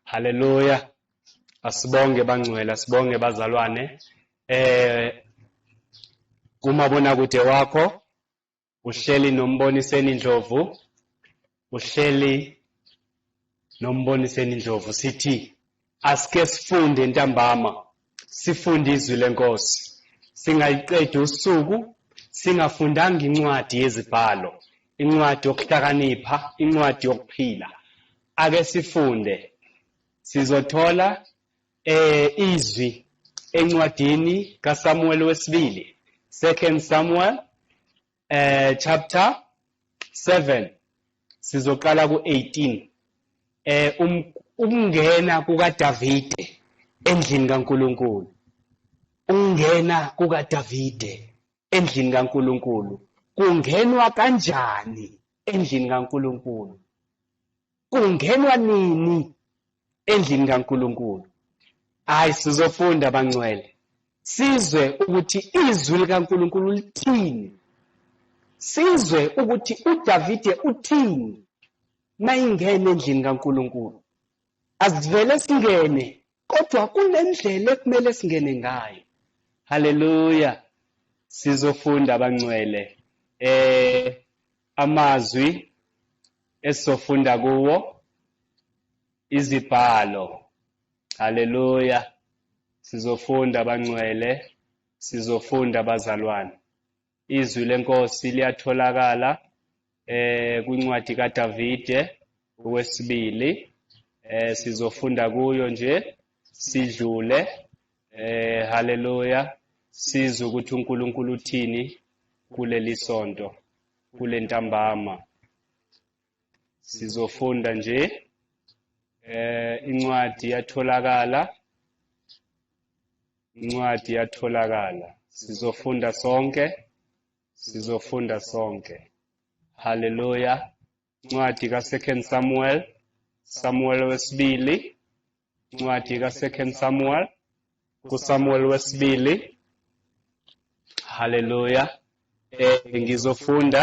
Haleluya. Asibonge bangcwele, asibonge bazalwane. Eh kumabonakude wakho uhleli nomboniseni Ndlovu. Uhleli nomboniseni Ndlovu sithi asike sifunde ntambama Sifunde izwi lenkosi. Singayiqedi usuku singafundanga incwadi yezibhalo, incwadi yokuhlakanipha, incwadi yokuphila. Ake sifunde. Sizothola eh izwi encwadini kaSamuel wesibili, Second Samuel eh chapter 7 sizoqala ku18 eh um, ukungena kukaDavide endlini kaNkuluNkulu ukungena kukaDavide endlini kaNkuluNkulu kungenwa kanjani endlini kaNkuluNkulu kungenwa nini endlini kaNkulunkulu hayi sizofunda bangcwele sizwe ukuthi izwi likaNkulunkulu lithini sizwe ukuthi uDavide uthini mayingene endlini kaNkulunkulu asivele singene kodwa kunendlela ekumele singene ngayo haleluya sizofunda abangcwele eh amazwi esizofunda kuwo izibhalo haleluya sizofunda abangcwele sizofunda abazalwane Izwi lenkosi liyatholakala eh kwincwadi kaDavide okwesibili eh sizofunda kuyo nje sidlule eh haleluya sizwe ukuthi uNkulunkulu uthini kuleli sonto kulentambama sizofunda nje eh incwadi yatholakala incwadi yatholakala sizofunda sonke sizofunda sonke haleluya incwadi ka second samuel samuel wesibili incwadi ka second samuel kusamuel wesibili haleluya eh ngizofunda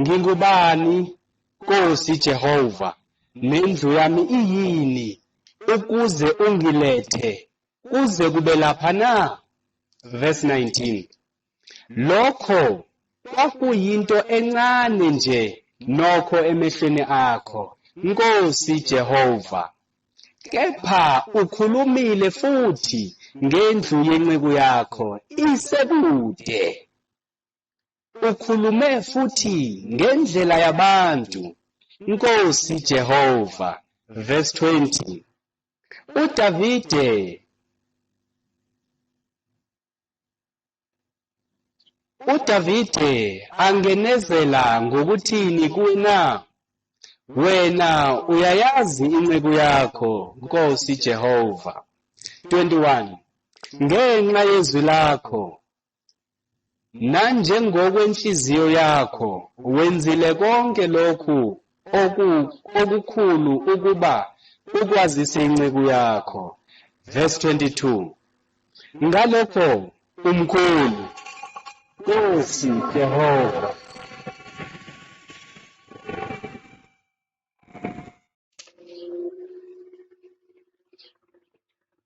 Ngingubani, Nkosi Jehova, nendlu yami iyini, ukuze ungilethe kuze kube lapha na? Verse 19. Lokho kwakuyinto encane nje nokho emehlweni akho, Nkosi Jehova. Kepha ukhulumile futhi ngendlu yenceku yakho isekude. Ukhulume futhi ngendlela yabantu, Nkosi Jehova, verse 20. UDavide UDavide angenezela ngokuthini kuwe na? Wena uyayazi inceku yakho, Nkosi Jehova. 21. Ngenxa yezwi lakho Nanjengokwenhliziyo yakho wenzile konke lokhu oku, okukhulu ukuba ukwazise inceku yakho. Verse 22. Ngalokho umkhulu. Nkosi Jehova.